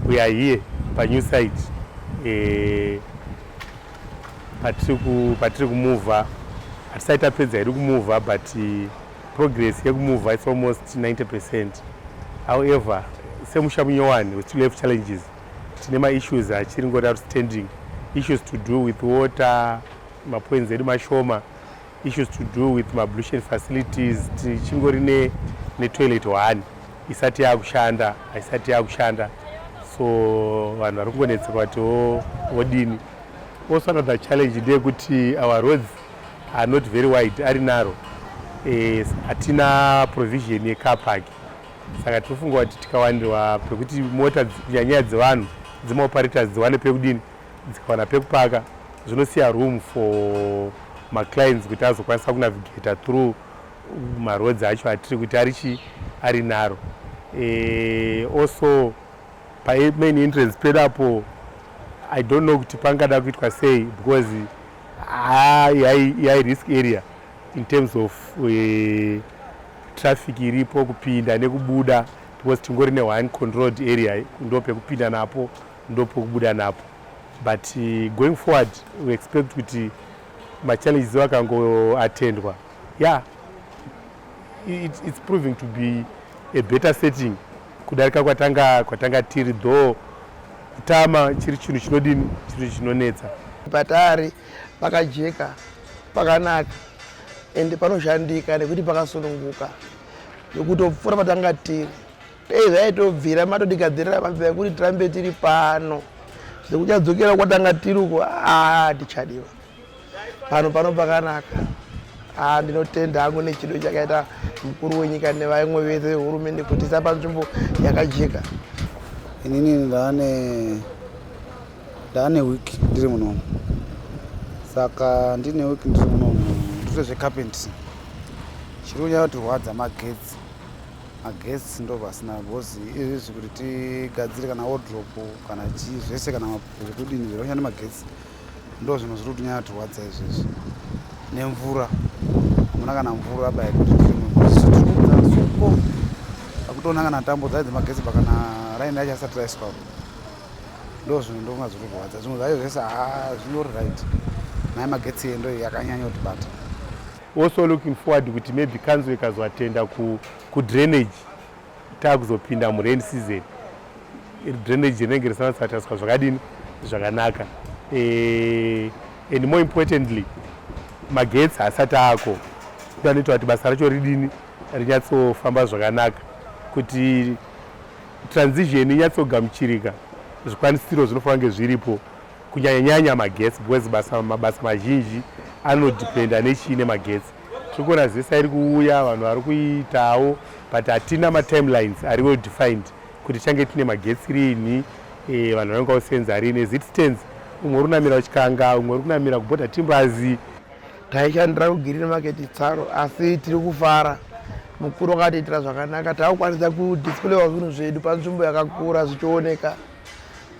We are here pa new site eh, patiri kumuvha hatisati tapedza iri kumuvha but eh, progress yekumuvha its almost 90 percent however semusha munyowani we still have challenges tine maissues achiri ngoti outstanding issues to do with water mapwenzi edu mashoma issues to do with mablution facilities tichingori ne, ne toilet one isati yakushanda haisati yakushanda so vanhu vari kungonetseka vati vodini also another challenge ndeyekuti our roads are not very wide ari naro eh, hatina e, provision yecar park saka tinofunga kuti tikawanirwa pekuti mota kunyanyaya dzevanhu dzimaoperators dziwane pekudini dzikawana pekupaka zvinosiya room for maclines kuti azokwanisa kunavigata through maroads acho atiri kuti ari chii ari naro e, also pamain entrance pedu apo i don't know kuti pangada kuitwa sei because yai risk area in terms of e, traffic iripo kupinda nekubuda because tingori ne one controlled area ndo pekupinda napo ndopokubuda napo but uh, going forward we expect kuti machallenges akangoatendwa yeah it, it's proving to be a better setting kudarika kwatanga kwatanga tiri though kutama chiri chinhu chinodini chiri chinonetsa patari pakajeka pakanaka ende panoshandika nekuti pakasununguka nekutopfuura patanga tiri dai zvaitobvira matotigadzirira mabva ekuti tirambe tiri pano zvekuchadzokera kwatanga tiri uko aa tichadiwa pano pano pakanaka aa ndinotenda hangu nechido chakaita mukuru wenyika nevaimwe vese vehurumende kuti isa panzvimbo yakajeka inini ndaane ndaane wiki ndiri munomu saka ndine wiki ndiri munomu ndito zvecarpentry chiri kunyaya kutirwadza magetsi maguests ndo vasina because izvi zvekuti tigadzire kana wardrope kana chii zvese kana zvekudini zviri kushanda magetsi ndo zvinhu zviri kutinyaya turwadza izvezvi nemvura hamuna kana mvura by kuti tirimusuko akutoona kana tambo dzaidzi magetsi pa kana raini yacho asati raiswa ndo zvinhu ndokunga zviri kurwadza zvimwe zvacho zvese ha ah, zvinyori right naye magetsi endo yakanyanya kutibata Also looking forward kuti maybe council ikazotenda ku, ku drainage takuzopinda mu rain season drainage rinenge risanatsataswa zvakadini zvakanaka e, and more importantly magetsi haasati ako kuti anoita kuti basa racho ridini rinyatsofamba zvakanaka kuti transition inyatsogamuchirika zvikwanisiro zvinofanira kunge zviripo kunyanyanyanya magetsi because basa mabasa mazhinji anodependa nechii nemagetsi tiri kuona zesa iri kuuya vanhu vari kuitawo but hatina matimelines ari well defined kuti change tine magetsi rinhi e, vanhu vanenge vakusenza rini as it stands umwe uri kunamira uchikanga umwe uri kunamira kuboda timbazi taishandira kugirine maketi tsaro asi tiri kufara mukuru wakatiitira zvakanaka takukwanisa kudisplawa zvinhu zvedu panzvimbo yakakura zvichioneka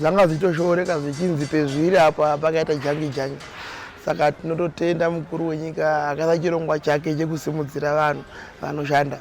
zvanga zvichitoshooreka zvichinzi pezviri apa pakaita jangi jangi saka tinototenda mukuru wenyika akaisa chirongwa chake chekusimudzira vanhu vanoshanda